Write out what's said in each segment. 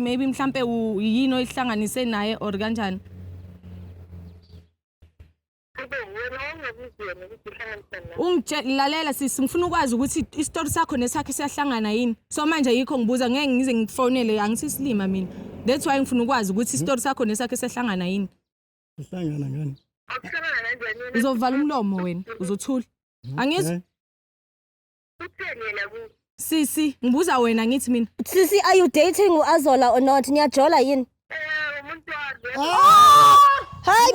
maybe mhlampe yini oyihlanganise naye or kanjani ungitshelalela sisi ngifuna ukwazi ukuthi isitori sakho nesakhe siyahlangana yini so manje yikho ngibuza ngeke ngize ngifonele angisisilima mina that's why ngifuna ukwazi ukuthi isitori sakho nesakhe siyahlangana yini sihlangana ngani uzovala umlomo wena uzothula angizwa Utheni yena ku? Sisi, ngibuza wena ngithi mina. Sisi are you dating uAzola or not? Niyajola yini? Eh, umuntu wazi. Hi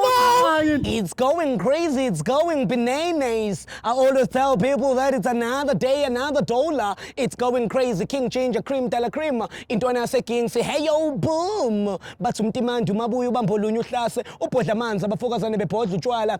man. It's going crazy, it's going bananas. I always tell people that it's another day, another dollar. It's going crazy, King Ginger, Cream, Dela Cream. Intwana yaseKing say, hey yo, boom. Bathi umtimandi umabuya ubamba olunye uhlase, ubhodla amanzi, abafokazane bebhodla utshwala.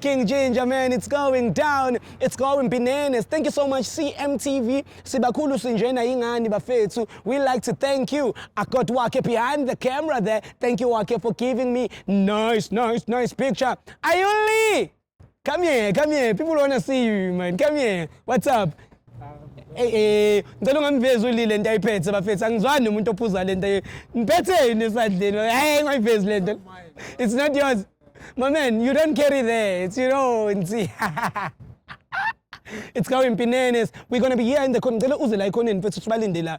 King Ginger man it's going down it's going bananas thank you so much CMTV sibakhulu sinjena yingani bafethu we like to thank you I got Wake behind the camera there thank you Wake for giving me nice nice nice picture Ayuli come here come here people want to see you man come here what's up Ey eh ngicela ungangivezi ulile into ayiphethe bafethu angizwani nomuntu ophuza lento ngiphethe yini esandleni hey ngayivezi lento it's not yours my man you don't carry there it's your own nsi it's going pinenes we're going to be here in the corner ngicela uze la ikhoneni mfethu sibalinde la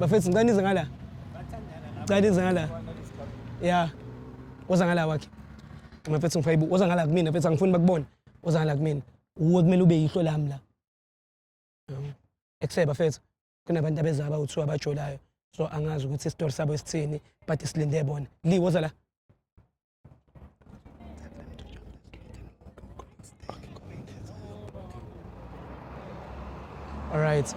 bafethu ngicela nize ngala ngicela nize ngala ya woza ngala wakhe mafethu ngifuna ibuku woza ngala kumina mfethu angifuni bakubona woza ngala kumina uwe kumele ube yihlo lami la ekuhle bafethu kunabantu abeza abawu-two abajolayo so angazi ukuthi isitori sabo esithini but silinde bona li woza la all right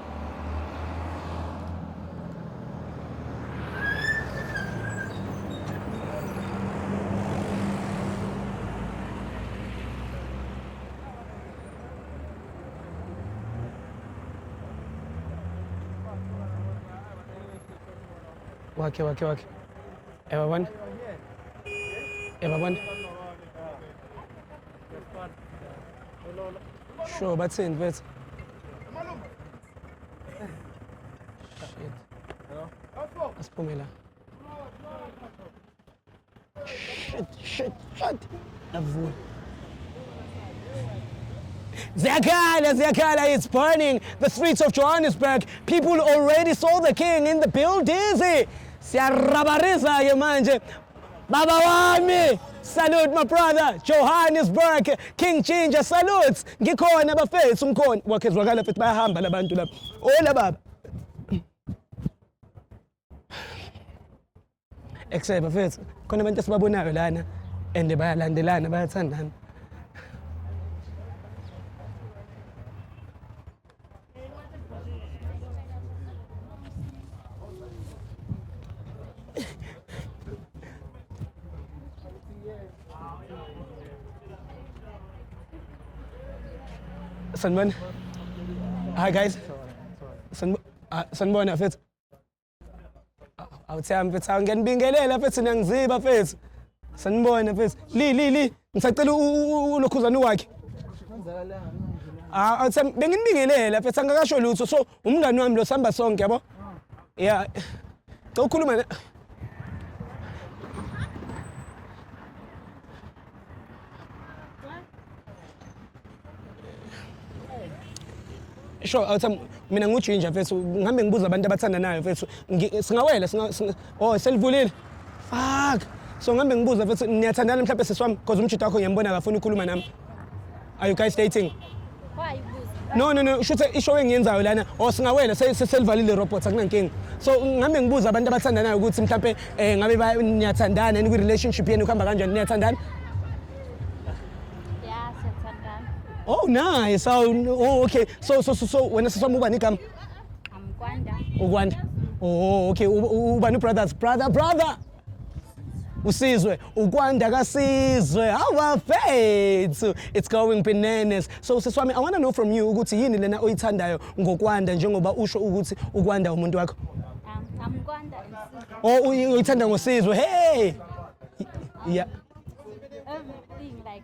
wake wake wake ewa bwana ewa bwana sure bathini mfethu shit asiphume la Shit, shit, shit. Avula. Ziyakhala, Ziyakhala, it's burning. The streets of Johannesburg. People already saw the king in the buildings. Siyarabariza ke manje. Baba wami. Salute my brother Johannesburg King Ginger salutes ngikhona bafethu ngikhona wakhe zwakala mfethu bayahamba labantu lapha ola baba Ekushaye bafethu khona abantu esibabonayo lana and bayalandelana bayathandana. Sanibona. Hi guys. Sanibona. Ah, sanibona mfethu. awuthami mfethu ngiyanibingelela mfethu niyangiziba mfethu sanibona mfethu li li li ngisacela ulokhuzane wakhe ah, awuthami benginibingelela mfethu angakasho lutho so umngani wami lo sihamba sonke yabo ya cela ukhuluma sure awuthi mina ngujinja mfethu ngihambe ngibuza abantu abathandanayo mfethu singawela oh selivulile fuck so ngihambe ngibuza mfethu niyathandana mhlawumbe sisi wami because umjita wakho ngiyambona akafuni ukukhuluma nami Are you guys dating? Why you busy? No no no usho ukuthi isho engiyenzayo lana or singawela se- se- selivalile robot akunankinga. So ngame ngibuza abantu abathandanayo ukuthi mhlawumbe eh ngabe ba- niyathandana yini kwi relationship yenu kuhamba kanjani niyathandana? Yeah, siyathandana. Oh nice. Oh, no, oh okay. So so so so wena siswami ubani igama? Amkwanda. Ukwanda. Oh okay u- u- ubani brothers brother brother. usizwe ukwanda kasizwe awafethu it's going bananas so usisi wami i want to know from you ukuthi yini lena oyithandayo ngokwanda njengoba usho ukuthi ukwanda umuntu wakho um, I'm Kwanda oh uyithanda ngosizwe hey yeah everything like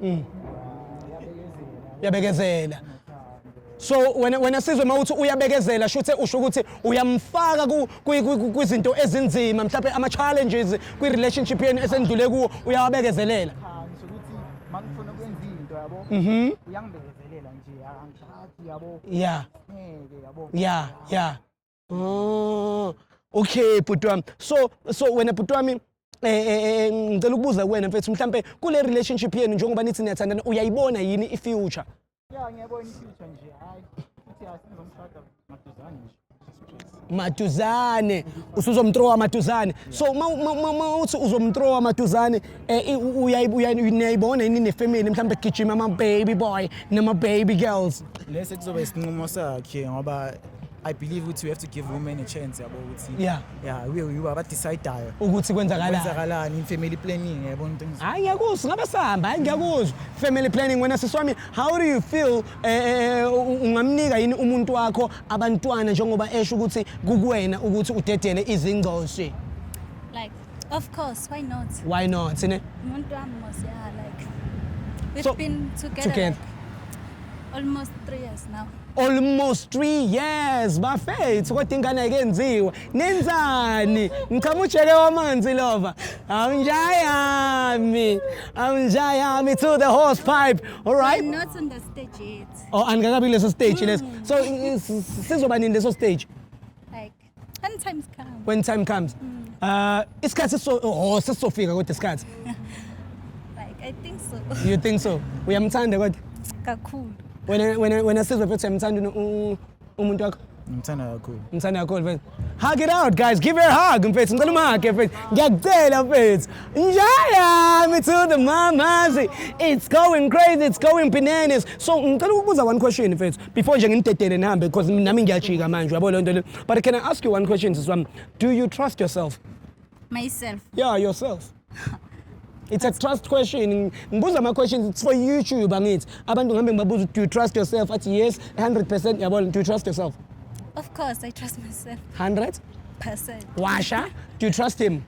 Mm. uyabekezela so wena wena sizwe uma uthi uyabekezela shuthe usho ukuthi uyamfaka ku- kwi- kwi- kwi- kwizinto ezinzima mhlawumbe ama-challenges kwi-relationship yenu esenidlule kuwo uyawabekezelela cha ngisho ukuthi mangifuna ukwenza into yabo Mhm. uyangibekezelela nje angishaki yabo ya ngeke yabo ya ya Oh, okay bhuti wami so so wena bhuti wami eh, eh, eh, eh ngicela ukubuza kuwena mfethu mhlampe kule relationship yenu njengoba nithi niyathandana uyayibona yini i-future ya ngiyabona i-future nje hayi futhi asizomshada maduzane nje maduzane usuzomtrowa maduzane so mawuthi uzomtrowa maduzane um uyayibona yini nefamily mhlawumbe kugijima ama-baby boy nama-baby girls lesi kuzoba isinqumo sakhe ngoba I believe ukuthi we have to give women a chance yabo ukuthi Yeah. yeah we we abadecidayo ukuthi kwenzakalani kwenzakalani in family planning yabo into engizo- hayi ngiyakuzwa ngabe sihamba hayi ngiyakuzwa family planning wena sisi wami how do you feel eh, eh, u- ungamnika yini umuntu wakho abantwana njengoba esho ukuthi kukuwena ukuthi udedele izingcoshi like Of course, why not? Why not? Sine? Umuntu wami mos yeah like we've so, been together, together. Like, almost 3 years now. Almost 3 years bafethu kodwa ingane ayikenziwa. Nenzani? Ngichama ujeke wamanzi lova. Awunjayami. Awunjayami to the horse pipe. All right? I'm not on the stage yet. Oh, angikakabi leso stage leso. So sizoba nini leso stage? When times come. When time comes. Mm. Uh, isikhathi so oh sesizofika kodwa isikhathi. Like I think so. You think so? Uyamthanda kodwa? Kakhulu. Wena wena wena sizwe futhi uyamthanda umuntu wakho? Ngimthanda kakhulu. Ngimthanda kakhulu mfethu. Hug it out guys, give her a hug mfethu. Ngicela umhage mfethu. Ngiyakucela mfethu. Njaya me to the mamazi. It's going crazy, it's going bananas. So ngicela ukubuza one question mfethu. before nje ngimdedele nihambe because nami ngiyajika manje uyabo lento le but can i ask you one question sisi wami do you trust yourself myself yeah yourself It's a trust question. Ngibuza ama questions it's for YouTube angithi. Abantu ngihambe ngibabuza do you trust yourself? Athi yes 100% yabona do you trust yourself? Of course I trust myself. 100? Percent. Washa, do you trust him?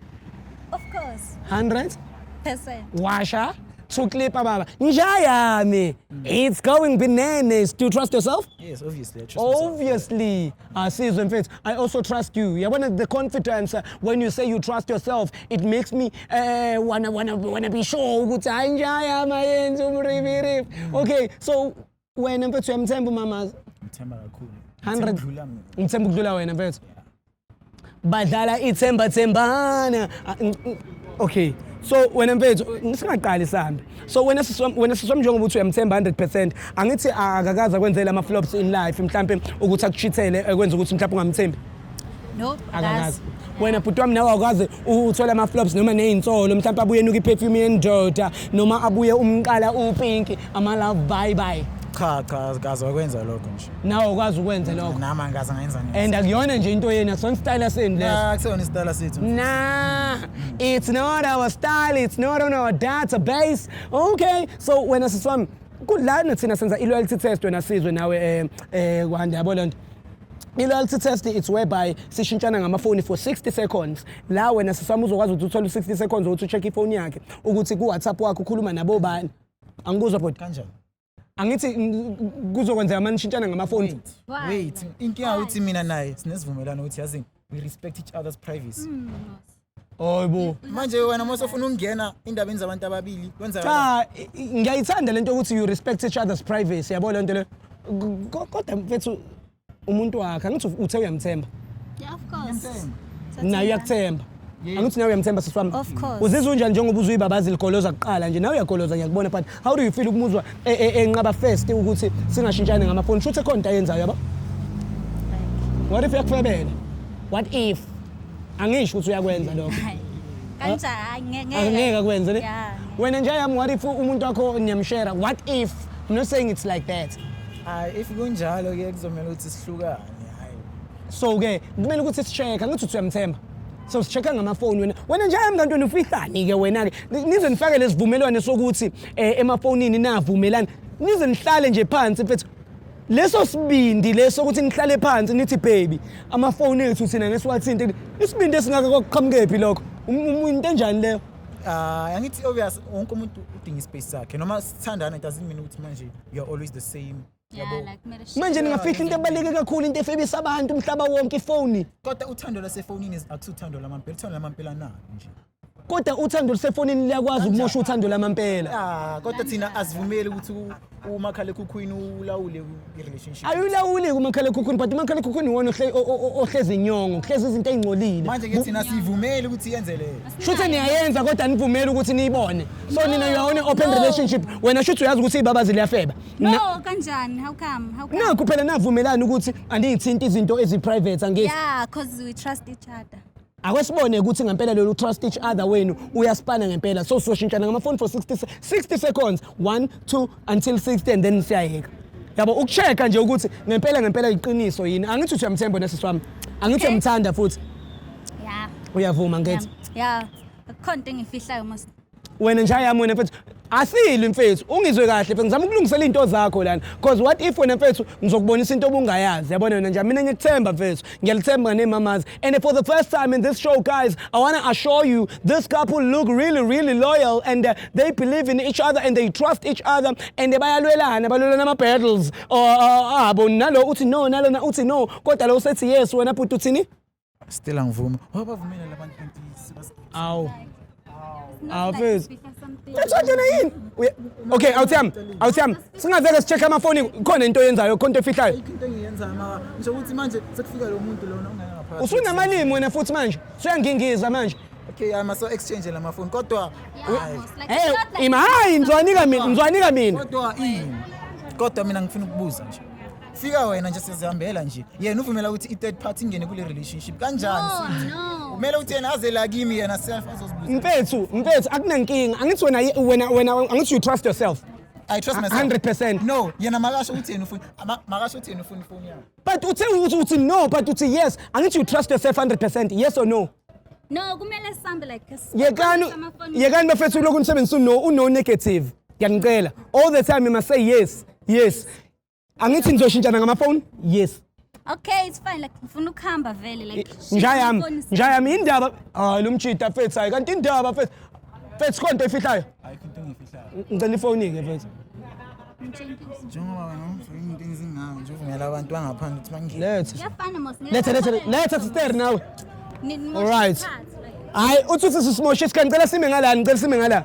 Of course. 100? Percent. Washa, to clip ababa nja yami it's going bananas do you trust yourself Yes, obviously. I trust myself. obviously asizwe mfethu i also trust you yabona the confidence uh, when you say you trust yourself it makes me uh, wanna, wanna, wanna be sure ukuthi hayi nja yami ayenzi umribirib okay so wena mfethu uyamthemba umamazi ngithemba kakhulu 100 Ngithemba mina. ngithemba ukudlula wena mfethu badlala ithemba thembana Ah, ng- ng- okay so wena mfethu singaqali sambe so wena sisi wam- wena sisi wam njengoba uthi uyamthemba 100% angithi akakaza kwenzela ama-flops in life mhlampe ukuthi akuchithele ekwenza ukuthi mhlampe ungamthembi No, akakazi wena bhuti wami nawe awukaze uthole ama-flops noma ney'nsolo mhlawumpe abuye enuka i-perfume yendoda noma abuye umqala upinki ama-love bye bye cha cha kaze wakwenza lokho nje nawe ukwazi ukwenza lokho nami angikaze ngayenza nje and akuyona nje into yenu akusona isitayela senu leso Ah, akuseyona isitayela sethu Nah, it's not our style, it's not on our database. Okay, so wena sisi wami, kudlani thina senza i-loyalty test wena sizwe nawe eh eh kwanda yabo lento. I-loyalty test it's whereby sishintshana ngamafoni for 60 seconds la wena sisami uzokwazi ukuthi uthole 60 seconds ukuthi ucheck ifoni yakhe ukuthi ku-whatsapp wakhe ukhuluma nabobani angikuzwa bhodi kanjani angithi kuzokwenzeka mani shintshana ngamafoni wait inkinga ukuthi mina naye sinesivumelwano ukuthi yazini we respect each other's privacy mm, Hayibo. Manje wena mose ufuna ukungena indabeni zabantu ababili kwenza Cha i- i- ngiyayithanda lento ukuthi you respect each other's privacy yabo lento le. K- ko- Kodwa mfethu umuntu wakhe angithi u- uthe uyamthemba. Yeah, of course. Naye uyakuthemba. Angithi nawe uyamthemba sisi wami. Of course. Uzizwa unjani njengoba uzwe ibabazi ligoloza kuqala nje nawe uyagoloza ngiyakubona but how do you feel ukumuzwa e- e- enqaba first ukuthi singashintshani ngamafoni shuthi ekhona into ayenzayo yabo. What if yakufebela? What if? angisho ukuthi uyakwenza lokho Hayi. Kanjani? Hayi, nge- ngeke. angeke akwenze ne Yeah. wena nje yami what if umuntu wakho niyamshera what if i'm not saying it's like that Hayi if kunjalo ke kuzomela ukuthi sihlukane. Hayi. so ke kumele ukuthi si-check angithi uthi uyamthemba so si-check-a ngamafoni wena wena nje yami kanti nifihlani-ke wena-ke Ni- nize nifakele isivumelwane sokuthi um emafonini navumelani nize nihlale nje phansi mfethu leso sibindi leso ukuthi nihlale phansi nithi baby amafoni ethu thina ngesiwathinte isibindi esingaka kwakuqhamukephi lokho um, um, into enjani leyo Ah, uh, angithi obvious wonke umuntu udinga ispace sakhe noma sithandana it doesn't mean ukuthi manje you are always the same yabo manje ningafihla into ebaluleke kakhulu into efebisa abantu umhlaba wonke ifoni kodwa uthando lasefonini akusuthando lamampela uthando lamampela nani nje kodwa uthando lusefonini liyakwazi ukumosha uthando lamampela Ah, kodwa thina asivumeli ukuthi u- umakhalekhukhwini ulawule u- i-relationship. ayulawuli kumakhalekhukhwini but umakhalekhukhwini iwona ohle- o- o- o- ohlezi inyongo kuhlezi izinto ey'ngcolile Manje ke thina sivumeli ukuthi yenze leyo. shuthi niyayenza kodwa nivumeli ukuthi niyibone so nina you are on a open No. relationship wena shuthi uyazi ukuthi iy'babazi liyafeba Na- No, kanjani? How come? How come? nakho phela navumelani ukuthi andiyithinti izinto ezi-private angithi Yeah, cause we trust each other. akwesibone ukuthi ngempela lolu trust each other wenu uyaspana ngempela so soshintshana ngamafoni for 60 60 seconds 1 2 until 60 and then siyayeka yabo ukuchecka nje ukuthi ngempela ngempela iqiniso yini angithi uthi uyamthemba nesisi wami angithi uyamthanda futhi ya uyavuma ngithi ya khona into engifihlayo mos wena nje ayami wena mfethu asili mfethu ungizwe kahle mfethu ngizama ukulungisela into zakho lana because what if wena mfethu ngizokubonisa into obungayazi yabona wena nje mina ngikuthemba mfethu ngiyalithemba nemamazi and for the first time in this show guys i want to assure you this couple look really really loyal and uh, they believe in each other and they trust each other and bayalwelana balwelana ama battles abo nalo uthi no nalona uthi no kodwa lo usethi yes wena bhuti uthini Still angivumi. Wabavumela labantu kanti sibasigidi. Awu. Awu mfethu. Uthanda yini? Uye- Okay, awuthami. Awuthami. Singaveke sicheck amafoni khona into oyenzayo, khona into efihlayo. Ayikho into engiyenzayo maka. Ngisho ukuthi manje sekufika lo muntu lona ongena ngaphandle. Usunamalimi wena futhi manje. Usuyangingiza manje. Okay, ama so exchange la mafoni kodwa Hey, ima hayi ngizwanika mina, ngizwanika mina. kodwa ini? Kodwa mina ngifuna ukubuza nje. fika wena nje sizihambela nje yena uvumela ukuthi i-third party ingene kule relationship kanjani No, sisi? no. kumele ukuthi yena aze la kimi yena self azozibuza mfethu mfethu akunankinga angithi wena wena wena angithi you trust yourself i trust myself 100%. no yena makasho ukuthi yena ufuna ama- makasho ukuthi yena ufuna ifoni yakhe but uthe uthi uthi no but uthi yes angithi you trust yourself 100% yes or no No, kumele sihambe like a small yekani amafoni. yekani bafethu lokhu nisebenzisa uno uno negative ngiyanicela all the time you must say yes yes angithi nizoshintshana ngamafoni yes okay it's fine like ngifuna ukuhamba vele like nja yami nja yami indaba hayi lo mjita fethu hayi kanti indaba fethu fethu konto efihlayo ayikho into engifihlayo ngicela ifoni ke fethu njengoba wena ungifuna into enzingayo nje uvumela abantu bangaphandle ukuthi bangene letha yafana mos letha letha letha sister nawe all right hayi uthi uthi sisimoshe isikhathi ngicela sime ngala ngicela sime ngala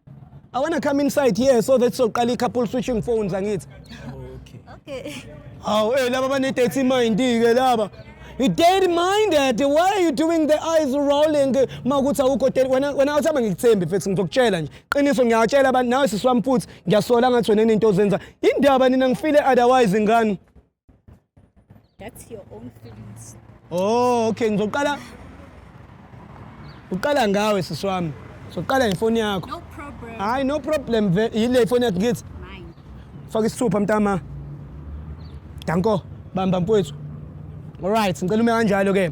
I want to come inside here so that soqala i-couple switching phones angithi. Okay. Hawu, eh laba bane-dirty mind ke laba. You dirty minded. Why are you doing the eyes rolling? Makuthi awukho dirty. Wena wena awuthi abangikuthembi mfethu ngizokutshela nje. Qiniso ngiyatshela abantu nawe sisi wami futhi ngiyasola ngathi wena into ozenza. Indaba nina ngifile otherwise ngani? That's your own feelings. Oh, okay ngizoqala Uqala ngawe sisi wami. Soqala ngefoni yakho. No problem. Hayi no problem yile ifoni yakho ngithi. Mine. Faka isithupha mntama. Danko bamba mfowethu. All right, ngicela ume kanjalo ke.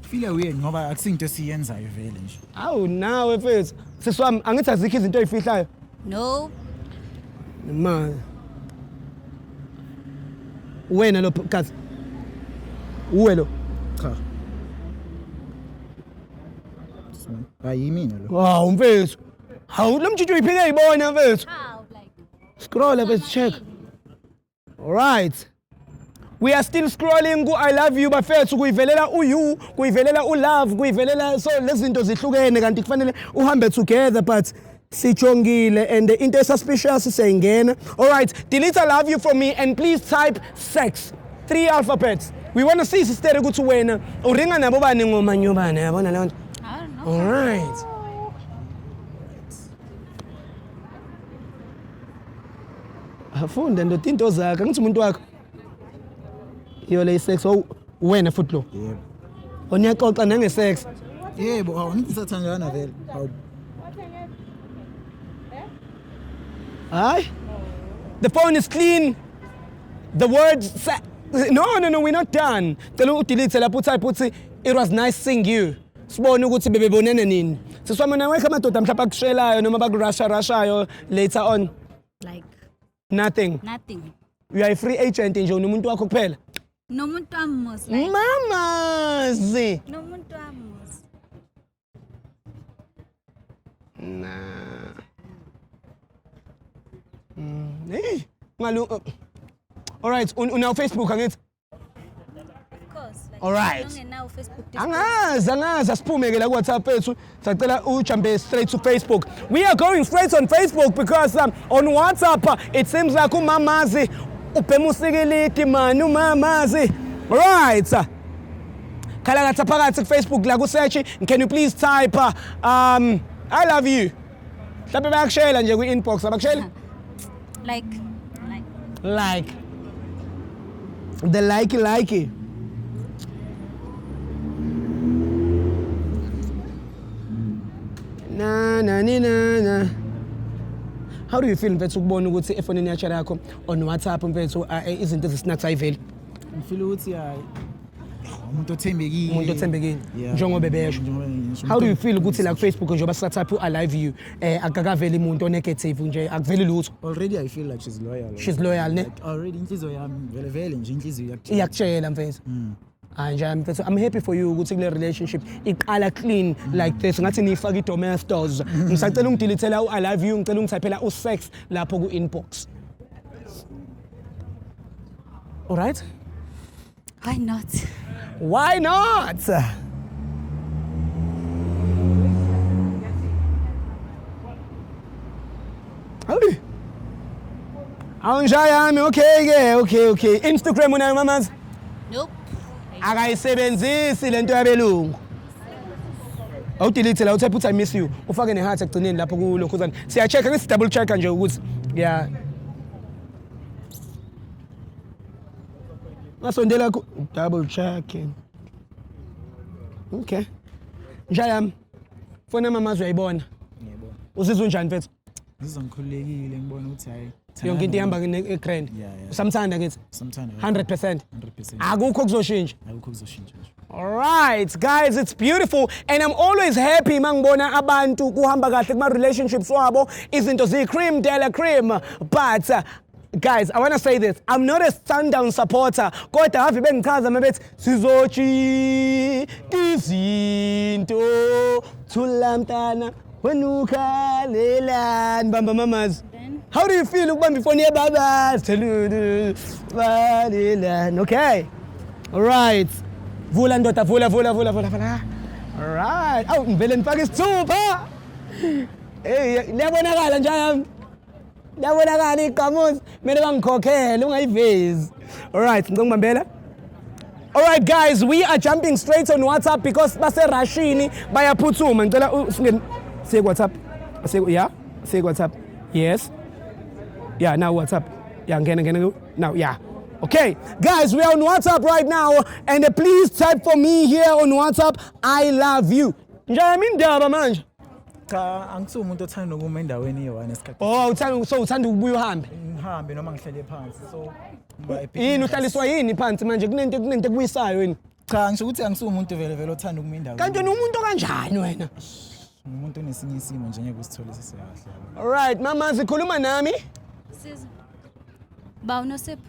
file uyeni ngoba akusinto esiyenzayo vele nje awu nawe mfethu sisi wami angithi azikho izinto ezifihlayo no imali wena lo kazi uwe lo cha ayimina lo hawu mfethu hawu lo mjiji uyiphike yibona mfethu scroll up check Right. We are still scrolling ku I love you bafethu kuyivelela u you kuyivelela u love kuyivelela so lezinto zihlukene kanti kufanele uhambe together but sijongile and into esuspicious siyayingena all right delete i love you from me and please type sex three alphabets we want to see sister ukuthi wena uringa nabo bani ngoma nyobane yabona leyo nto all right Afunde ndoda into zakhe angithi umuntu wakho. Iyo le sex ow wena futhi lo. Yebo. Oniyaxoxa nange sex. Yebo, awu ngithi sathandana vele. Awu. Hayi. The phone is clean. The words sa- No, no, no, we're not done. Cela udelete lapho utype uthi it was nice seeing you. Sibone ukuthi bebebonene nini. Siswama nawe amadoda mhlawumbe akushelayo noma bakurasha rashayo later on. like nothing nothing you are a free agent nje unomuntu wakho kuphela nomuntu wami mos like mamazi nomuntu wami mos na Mm, hey, ngalu uh, all right un- unawo facebook angithi Alright. Angazi angazi asiphume ke la ku WhatsApp ethu sacela ujumpe straight to Facebook. We are going straight on Facebook because um, on WhatsApp uh, it seems like umamazi ubhema usikilidi mani umamazi. Right. Khala ngathi phakathi ku Facebook la ku search can you please type uh, um I love you. mhlawumbe bayakushela nje kwi-inbox abakusheli like like like the like like na na ni na na how do you feel mfethu ukubona ukuthi efonini yatshela yakho on whatsapp mfethu ah, eh, izinto ezisinax ayiveli ngifile ukuthi hayi umuntu othembekile umuntu othembekile Yeah. njengoba ebesho Njengoba ngisho, how do you umuntu- feel ukuthi la kufacebook njengoba sisathatha u-alive you um akakaveli muntu onegative nje akuveli lutho already i feel like she's loyal She's loyal, ne? Like, already inhliziyo yami vele vele nje inhliziyo yakutshela. iyakutshela mfethu Mm. hayi nje mfethu i'm happy for you ukuthi kule relationship iqala clean like this ngathi niyifake i-domestos ngisacela ungidilithela u-alive you ngicela ungithaphela u-sex lapho ku-inbox alright Why not? Why not? Howdy. Awunjaya yami okay ke okay okay. Instagram unayo mamazi? Nope. Akayisebenzisi lento yabelungu. Awudelete la uthi put I miss you. Ufake ne heart ekugcineni lapho kulokhuzana. Siya check ngisi double check nje ukuthi yeah Ngasondela ku double checking. Okay. Njayami. Fona mama uzoyibona. Ngiyabona. Uzizwa unjani mfethu? Ngizizwa ngikhululekile ngibona ukuthi hayi yonke into ihamba nge-grand usamthanda kithi 100% akukho kuzoshintsha akukho kuzoshintsha Alright guys it's beautiful and I'm always happy mangibona abantu kuhamba kahle kuma relationships wabo izinto zi cream dela cream but uh, guys i want to say this i'm not a sundown supporter kodwa have bengichaza mabethi sizojika izinto thula mntana wenukhalelani bamba mamazi how do you feel ukubamba ifoni yebaba balelani okay all right vula ndoda vula vula vula vula vula all right awu ngivele ngifake isithupha hey liyabonakala njalo Yabonakala iqhamuzi kumele bangikhokhele ungayivezi. All right, ngicela ngibambela. All right guys, we are jumping straight on WhatsApp because base Rushini bayaphuthuma. Ngicela usingene siye WhatsApp. Siye yeah, siye WhatsApp. Yes. Yeah, now WhatsApp. Yeah, ngene ngene now. Yeah. Okay, guys, we are on WhatsApp right now, and please type for me here on WhatsApp, I love you. Ngiyami indaba manje. Cha angisuye umuntu othanda ukuma endaweni eyi-one esikhathi. Oh uthanda so uthanda ukubuya uhambe. Ngihambe noma ngihlele phansi so ngiba happy. Yini uhlaliswa yini phansi manje kunento kunento ekubuyisayo yini? Cha ngisho ukuthi angisuye umuntu vele vele othanda ukuma endaweni. Kanti wena umuntu okanjani wena? umuntu onesinye isimo nje ngeke usithole sisekahle. Alright mama zikhuluma nami. Siza. Ba unosipho.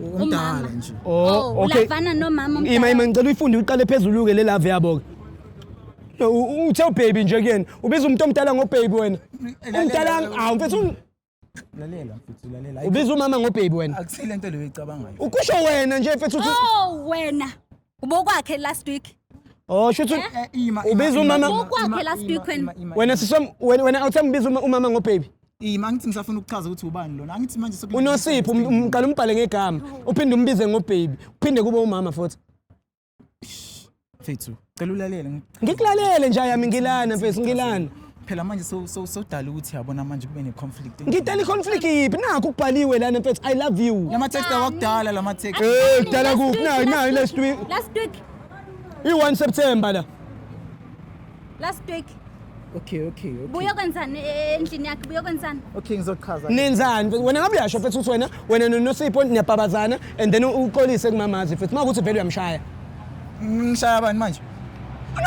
Umdala nje. Oh, Oh, okay. ulavana nomama Ima omdala. ima ngicela uyifunde uqale phezulu ke le love yabo ke. No, u- uthe ubaby nje kuyena. Ubiza umuntu omdala ngobaby wena. Umdala awu mfethu un- Lalela mfethu lalela. ubiza umama ngobaby wena. Akusile into leyo ecabangayo. Ukusho wena nje mfethu uthi Oh wena. Ubokwakhe last week. Oh shuthi eh? eh, ima ubiza umama ubokwakhe last week wena. Wena sisom wena wena awuthe ngibiza umama ngo baby. Ima angithi ngisafuna ukuchaza ukuthi ubani lona. Angithi manje sokuthi unosipho um, um, uqala umbhale ngegama. Uphinde umbize ngo baby. Uphinde kube umama futhi. Fethu, cela ulalele ngikulalele nje yami ngilana mfethu ngilana phela manje sodala ukuthi yabona manje kube ne-conflict ngidala i-conflict yiphi nakho ukubhaliwe lana mfethu i love you lama-text awakudala lama-text eh kudala kuphi nayo nayo last week last week i-1 september la last week okay okay okay buya kwenzani e, e, endlini yakhe buya kwenzani okay ngizochaza nenzani wena ngabe uyasho mfethu ukuthi wena wena nonosipho niyabhabazana and then uxolise kumamazi mfethu uma ukuthi vele uyamshaya ngishaya bani manje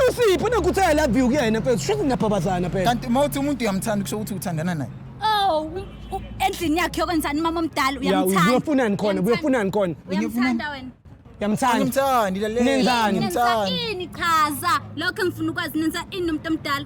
Usiphi nokuthi I love you kuyena mfethu shuthi niyabhabazana phela. Kanti uma uthi umuntu uyamthanda kusho ukuthi uthandana naye. Oh, u- u- endlini yakhe yokwenzani umama omdala Ya uyamthanda. uyofunani khona Uyamthanda. uyofunani khona. Uyamthanda wena. Yamthanda. Ngimthandi lalela. Nenzani? Nenza Ngimthandi. ini chaza lokho engifuna ukwazi nenza ini nomuntu omdala.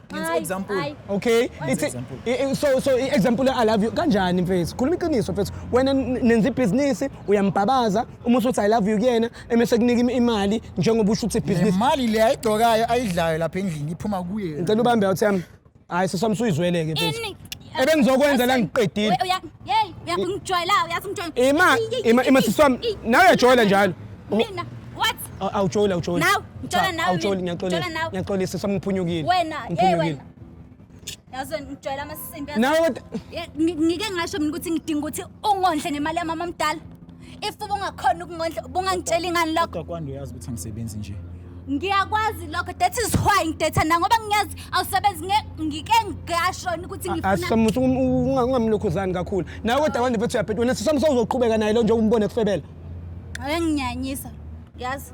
Ngenza example. Hayi. okay it's example. i- i- so so i- example i love you kanjani mfethu khuluma iqiniso mfethu wena n- nenza ibhizinisi uyambhabaza uma usuthi i love you kuyena emese kunika im- imali njengoba usho ukuthi Le ibhizinisi mali le ayigcokayo ayidlayo lapha endlini iphuma kuye. ngicela ubambe out yami hayi sesami suyizweleke mfethu Ini- ebengizokwenza la ngiqedile uyangijwayela uyazi ngijwayela ima ima ima siswami nawe uyajwayela njalo mina what awujoli awujoli nawe ngijwayela nawe awujoli ngiyaxolisa ngiyaxolisa siswami ngiphunyukile wena hey wena yazo ngijwayela amasimbi nawe ngike ngasho mina ukuthi ngidinga ukuthi ungondle nemali yamama mdala if ubungakhona ukungondla ubungangitsheli ngani lokho Kodwa kwande uyazi ukuthi angisebenzi nje. ngiyakwazi lokho that is why ngidetha na ngoba ngiyazi awusebenzi nge- ngike ngashona ukuthi ngifuna asisamusa ungamlokhuzani kakhulu nawe kodwa kwande mfethu uyabheda wena sisamusa uzoqhubeka naye lo nje umbone kufebela enginyanyisa yazi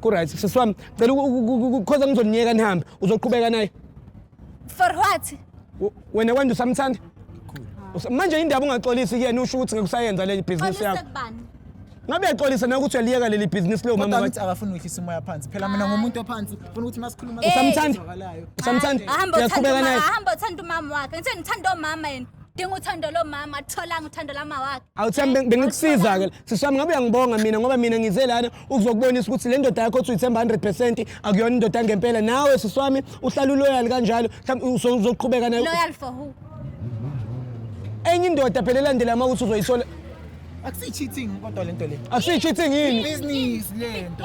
Kuright sisi wami cela ukukhoza ngizoniyeka nihambe uzoqhubeka naye. For what? W- Wena kwanje usamthanda? Usa- Manje indaba ungaxolisi kuyena usho ukuthi ngekusayenza le business yakho. kubani? Ngabe uyaxolisa na ukuthi uyaliyeka leli business leyo mama Kodwa wakho. ngithi akafuni ukwehlisa umoya phansi phela mina ngomuntu ophansi funa ukuthi masikhuluma Eh. Usamthanda? ezwakalayo. Usamthanda? Ahamba Uyaqhubeka uthanda naye? umama, ahamba uthanda umama wakhe. Ngithe ngithanda umama yena. Dinga uthando lomama, atholanga uthando lama wakhe. Awuthi yami bengikusiza ke. siswami ngabe uyangibonga mina ngoba mina ngize lana ukuzokubonisa ukuthi le ndoda yakho othi uyithemba 100 percent akuyona indoda yangempela nawe siswami uhlala uloyal kanjalo uzoqhubeka nayo loyal for who enye indoda phela elandela uma ukuthi uzoyithola Akusi-cheating kodwa lento le. Akusi-cheating yini? Business lento.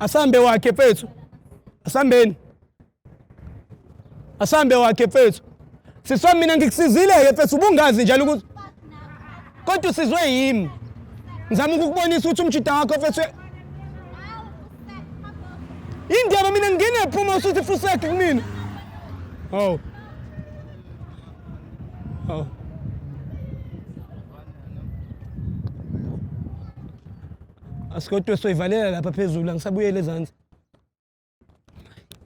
asambe wakhe fethu asambeni asambe wakhe fethu siswa mina ngikusizile-ke fethu ubungazi njalo ukuthi kodwa usizwe yimi ngizama ukukubonisa ukuthi umjida wakho fethu indaba mina ngingephuma usuthi fuseki kumina oh oh Asikodwa soyivalela lapha phezulu angisabuyele ezansi.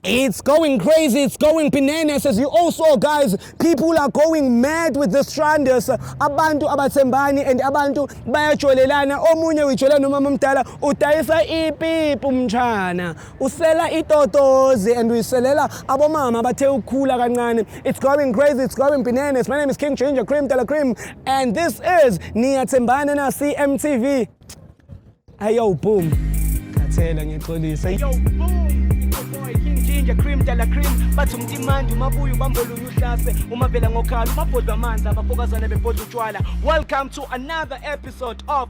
It's going crazy, it's going bananas as you all saw guys. People are going mad with this Stranders. Abantu abathembani and abantu bayajolelana. Omunye uyijolela nomama omdala udayisa ipipi umtshana. usela itotozi and uyiselela abomama abathe ukukhula kancane it's going crazy it's going bananas my name is king ginger cream dela cream and this is niyathembana na cmtv ayo boom khathela ngixolisa yo boom boy king ginger cream dela cream bathi umtimandi umabuya ubambolunya uhlase umavela ngokhala umabhodwa amanzi abafokazane bebhodwa utshwala welcome to another episode of